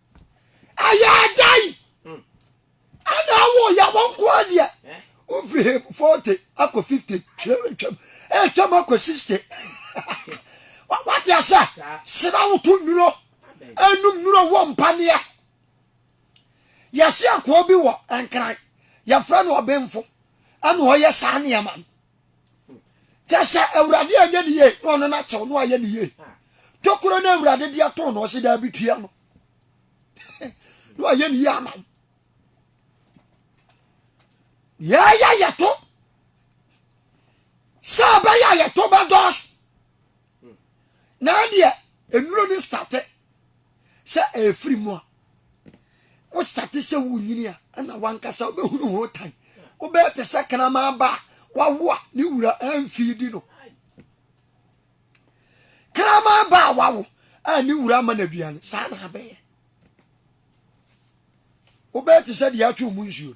ɛyɛ ada yi ɛna awo yɛ wɔn nko adeɛ wofiri he forty akɔ fifty twam twam ɛtwam akɔ sixty wate asɛ sena woto nnuro ɛnum nnuro wɔ mpaneɛ yɛse akoa bi wɔ nkran yɛfrɛ no ɔbenfo ɛna ɔyɛ saa nneɛma no Kyɛ sɛ Awurade anyɛ ne yie na ɔno na kyɛw no ayɛ ne yie. Tokuro no Awurade de ato no ɔse daabi tua no. Na wayɛ ne yie ama wo. Yɛyɛ yɛto sɛ ɛbɛyɛ a yɛto bɛdɔɔso. na adeɛ nnuro no starte sɛ ɛfiri mu a wo starte sɛ wo nyini a ɛna wankasa wobɛhunu ho tan wobɛyɛ te sɛ kraman ba a wawo a ne wura ɛmfii di no kraman ba a wawo a ne wura ama no aduane saa na abɛyɛ wobɛyɛ te sɛ deɛ atwe mu nsuo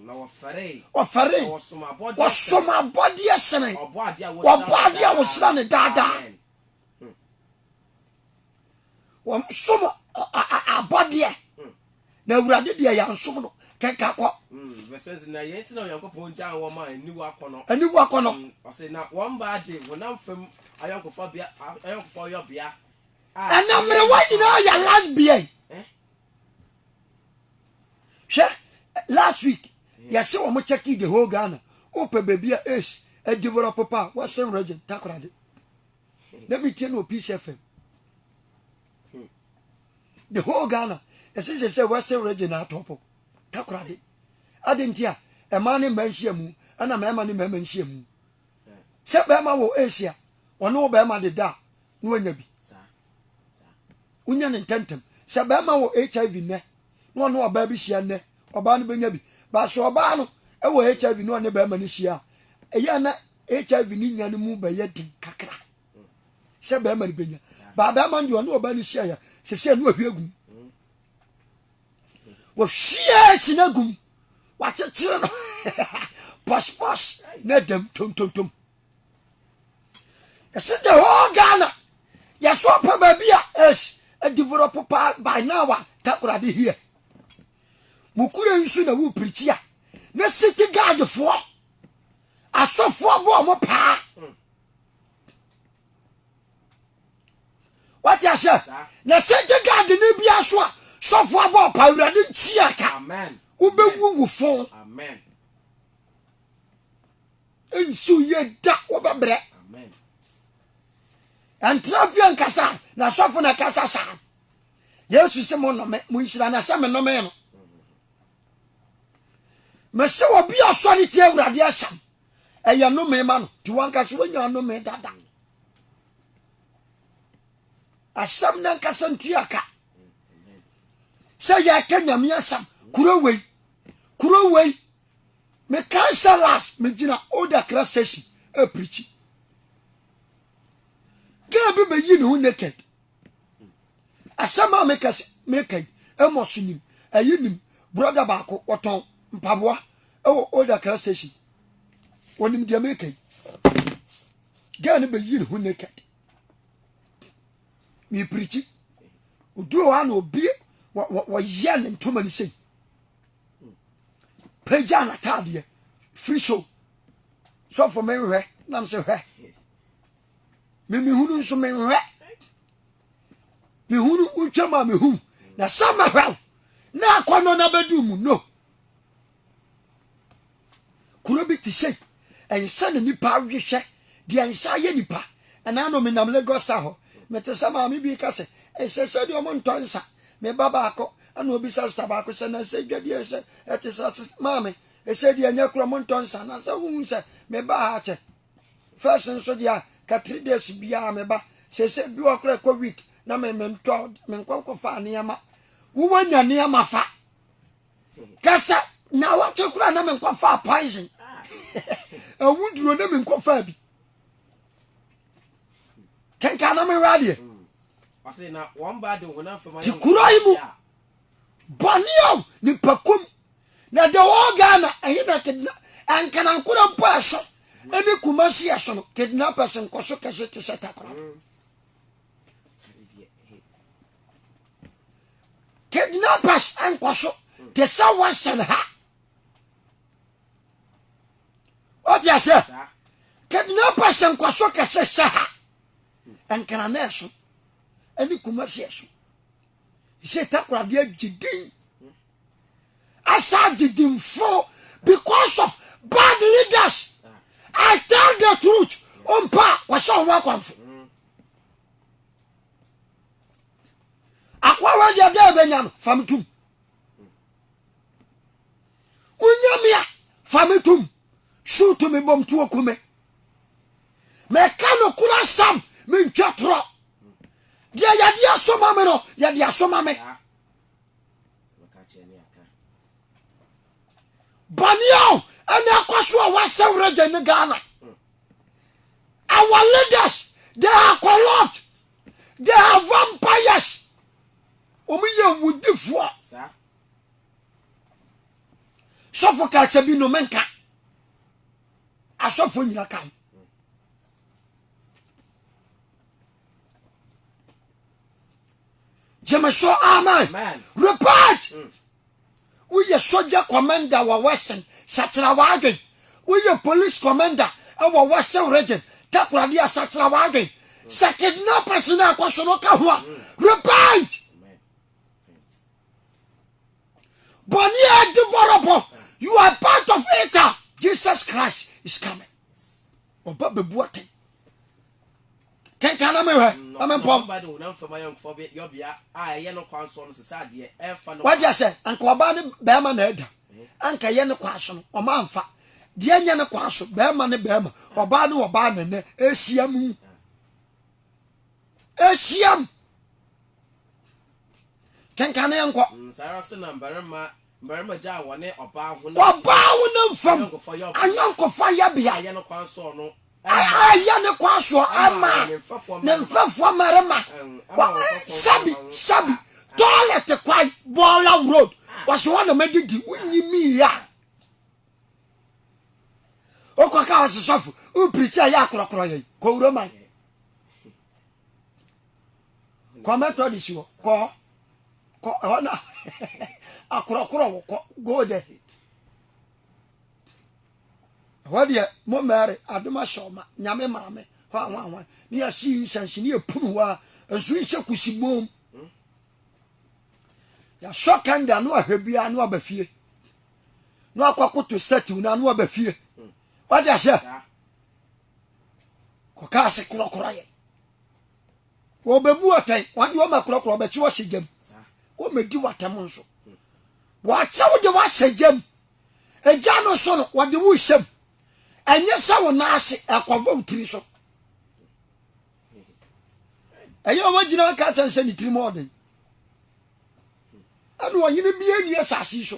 Na wɔfɛree. Wɔfɛree. Na wɔsom abɔdeɛ sene. Wɔsom abɔdeɛ sene. Ɔbɔadeɛ a wɔhyira no daa. Ɔbɔadeɛ a wɔhyira no daa daa. Amen. Wɔn som abɔdeɛ. Hmm. Na awurade deɛ yɛnsom no kenka kɔ. Bɛsɛ hmm, na yɛn ti na Onyankopɔn gyan wɔn a aniwu akɔnɔ. Aniwu akɔnɔ. Hmm, ɔsɛ na wɔn baa gye honam fam ayɔnkofa bea ayɔnkofa ɔyɔbea. Ɛna mmerewa nyinaa yɛ lesbian. Eh? hwɛ last week yɛse wɔn check the whole Ghana wopɛ baabi a ace develop pa a western region takorade na metie no wɔ peace fm the whole Ghana ɛse sɛ sɛ western region na atɔpo takorade ade nti a ɛma ne mma nhyia mu ɛna mmarima ne mmarima nhyia mu sɛ bɛrima wɔ ace a wɔne wo bɛrima de da a na wanya bi wonya ne ntɛntɛm sɛ bɛrima wɔ hiv nnɛ na ɔne ɔbaa bi hyia nnɛ ɔbaa no bɛnya bi baaso ɔbaa no wɔ hiv na ɔne bɛrima no hyia a ɛyɛ na hiv ne nya no mu bɛyɛ den kakra sɛ bɛrima no bɛnya baa bɛrima no deɛ ɔne ɔbaa no hyia yɛ sɛ sɛ ɛno ahwie agum wɔhwie si no agum wakyekyere no pɔspɔs na dam tontontom Yɛsi the whole Ghana. Yɛso pɛ baabi a ɛs ɛdevelop paa by now a takoradi here. Mukure nso na wopirikyi a na city guardfoɔ asɔfoɔ bɔ ɔmo paa. Wate aseɛ? Na city guard ne bi aso a sɔfoɔ abɔ ɔpa awurade ntua ka. Wobɛwu wo fon. Amen. Nsu yɛ da wɔbɛbrɛ. Ɛntena fie nkasa na asɔfo na ɛkasa saa. Yesu se mo nnome, mo nhyira na sɛ menome no. Mese obi a ɔsɔre tie Awurade asɛm, ɛyɛ nnome ma no, nti wankasa wanya nnome dada. Asɛm no ankasa ntua ka sɛ yɛka Nyame asɛm kuro wei kuro wei mekae sɛ last megyina Old Accra station aprikyi girl bi bɛyi ne ho naked asɛm a meka sɛ meka yi ɛmɔ so nim ɛyi nim broda baako wɔtɔn mpaboa ɛwɔ Old Accra station wɔnim deɛ meka yi girl no bɛyi ne ho naked mepirikyi oduo hɔ a na obie wɔyɛ ne ntoma no sei pagyaa n'ataadeɛ firi so sɔfo menhwɛ nam sɛ hwɛ memehunu nso menhwɛ mehunu wotwam a mehu na sɛ mɛhwɛ wo na akɔnnɔ no abɛdu mu no Kuro bi te sei, ɛnsɛ ne nipa awe hwɛ, deɛ ɛnsɛ ayɛ nipa. Ɛnaa no menam Lagos Star hɔ, mete sɛ maame bi reka sɛ, ɛsɛ sɛ deɛ wɔntɔ nsa. Me ba baako, ɛna ɔbisa sista baako sɛ, na ɛsɛ dwa deɛ ɛsɛ, ɛte sɛ ase, maame, ɛsɛ deɛ ɛnyɛ korɔ wɔntɔ nsa, na sɛ wohu sɛ me ba ha kyɛ. First nso deɛ a, ka three days biara me ba, sɛ ɛsɛ bi wɔ korɔ ɛkɔ week, na me mentɔ, menkɔ nkɔfa nneɛma. Wowɔ nya nneɛma fa. kasa na wɔtwe kora na menkɔfaa poison awuduro na menkɔfaa bi kenka na mewura deɛ nti kuro yi mu bɔne o nipakum na the whole ghana ɛhe na kidna ɛnkanankora mpo ɛso ɛne kumasi ɛso no kidnappers nkɔso kɛse te sɛ takora Kidnappers nkɔso te sɛ western ha ɔte aseɛ kidnappers nkɔso kɛse sɛ ha nkranɛ so ɛne kumasiɛ so sɛ takoradeɛ gye din asa gye dinfo because of bad leaders i tell the truth ɔmpa kɔhyɛ ɔmo akwanfo akoa wei deɛ dɛ ɛbɛnya no fa me tom wonya me a fa me tom su to me bom tuo kume meka no koro asɛm mentwa torɔ deɛ yɛde asoma me no yɛde asoma me bɔne a ɛna ɛkɔ so a wɔasɛ werɛ gya ne ghana mm. Our leaders they are corrupt. They are vampires. Wɔn yɛ wudifoɔ. Sɔfo kasa bi no menka. Asɔfo nyina ka ho. Gyeme so amen. Repent. Mm. Woyɛ sogya kɔmanda wɔ Western, sakyera w'adwen. Woyɛ polis kɔmanda wɔ Western Region, Takoradi a, sakyera w'adwen. Sɛ kidnappers no a ɛkɔ so no ka ho a, repent! Bɔne a ɛde bɔrɔbɔ, you are part of it a, Jesus Christ is coming. Ɔba bɛbu atɛn. kenkan na mehwɛ na mempɔm wagye asɛ anka ɔbaa ne bɛrima na ɛda anka ɛyɛ ne kwan so no ɔma amfa deɛ nyɛ ne kwan so bɛrima ne bɛrima ɔbaa ne ɔbaa nɛnɛ ɛhyia mu ɛhyia mu kenkan ne yɛnkɔ mm, saa ara so na mmarima Ɔbaa honam fam ayɔnkofa yɛbea a ɛyɛ ne kwan soɔ ɛma ne mfɛfoɔ mmarima sɛbi sɛbi toilet kwan bɔɔla road wɔsi hɔ na mɛdidi wonyi mi ya okɔ ka wɔsi sɔfo wopirikyi a yɛ akorɔkorɔ yɛ kɔwura man. kɔ methodist hɔ kɔ kɔ ɛhɔ na akorɔkorɔ wɔ kɔ go there ɛhɔ deɛ mo mary adoma hyɛ ɔma nyame maame hɔ ahwan ahwan ne yɛsi nsansi ne yɛpunu hɔ a nso nhyɛ kusi bom yɛasɔ kanda no ahwɛ biara no aba fie no akɔkoto statue no ano aba fie wade aseɛ kɔka ase korɔkorɔ yɛ wɔbɛbu atɛn wɔn de wɔn ma korɔkorɔ wɔbɛkye wɔhyɛ gyam wɔmɛdi wɔatɛm nso wɔakyɛw de wɔahyɛ gyam agya no so no wɔde wo hyɛm ɛnyɛ sɛ wo nan ase ɛkɔbɔ wo tiri so ɛyɛ a wɔagyina aka kyɛn sɛ ne tiri mu ɔden ɛna ɔhene bi ani asase so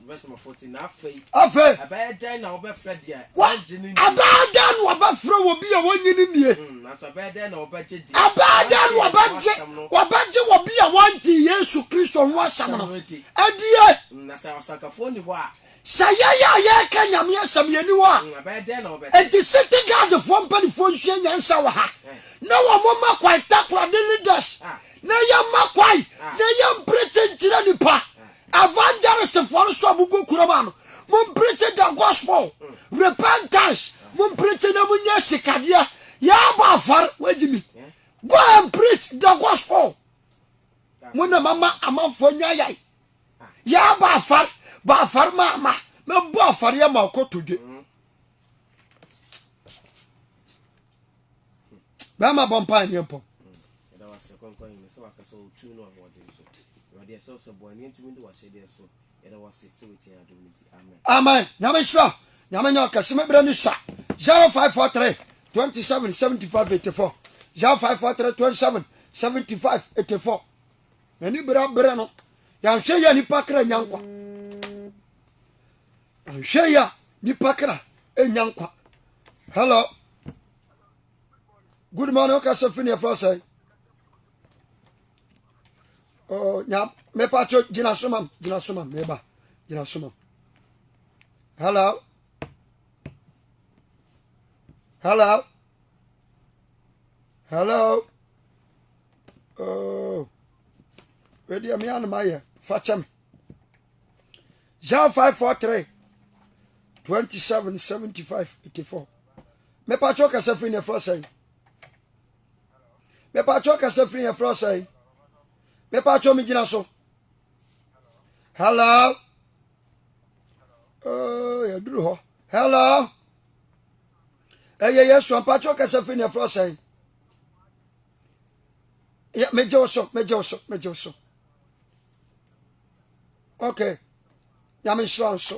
Afei, ɛbɛyɛ dɛn na wɔbɛfrɛ obi a wɔnnye no nnie? Hmm, ɛbɛyɛ dɛn na wɔbɛgye obi a wɔnte Yesu Kristo ho asɛm no adie? Hmm, sɛ yɛyɛ a yɛreka Nyame asɛm yɛni hɔ a, hmm, enti city guardfoɔ mpanimfoɔ nsua nyansa wɔ ha eh. na wɔmoma kwan takorade leaders ah. na yɛma kwan ah. na yɛmpere kyenkyerɛ nipa ah. Evangelistfoɔ no nso a mogu kurom a no, mompreache the gospel, repentance, mompreache na monyɛ sikadeɛ, yɛabɔ afɔre, wagye mi. Go and preach the gospel. Mo na mama amanfoɔ nya yae. Yɛabɔ afɔre, bɔ afɔre ma ama, mɛbɔ afɔreɛ ma ɔkɔtodwe. bɛrima bɔ mpae ne mpɔ ɛda wo ase kɔnkɔn yi sɛ waka sɛ wotu no ahoɔden so awurade ɛsɛ wo sɛ boa ne ntumi de wahyɛdeɛ so ɛda wo ase sɛ wotia adom no nti amen amen nyame nhyira nyame nyɛ ɔkɛse me berɛ ne sua 0543 27 75 84 0543 27 75 84 m'ani berɛ berɛ no yɛnhwɛ yɛ nipa kra nya nkwa nhwɛ ya nipa kra enya nkwa hello good morning o kasa fini efra sɛ oh nya me pa cho gina soma gina soma me ba gina soma hello hello hello oh wɛdeɛ me anom ayɛ fa kyɛ me John 543 27 75 84 mepatwɛ kasa firi neɛfrɛ sɛn mepatwɛ kasa firi neɛfrɛ sɛn mepatwɛ megyina so hello oh, yɛduru hɔ hello ɛyɛ yɛsu ampatwɛ kasa firi neɛfrɛ sɛn megye wo so megye wo so megye wo so okay nyame nhyira wo nso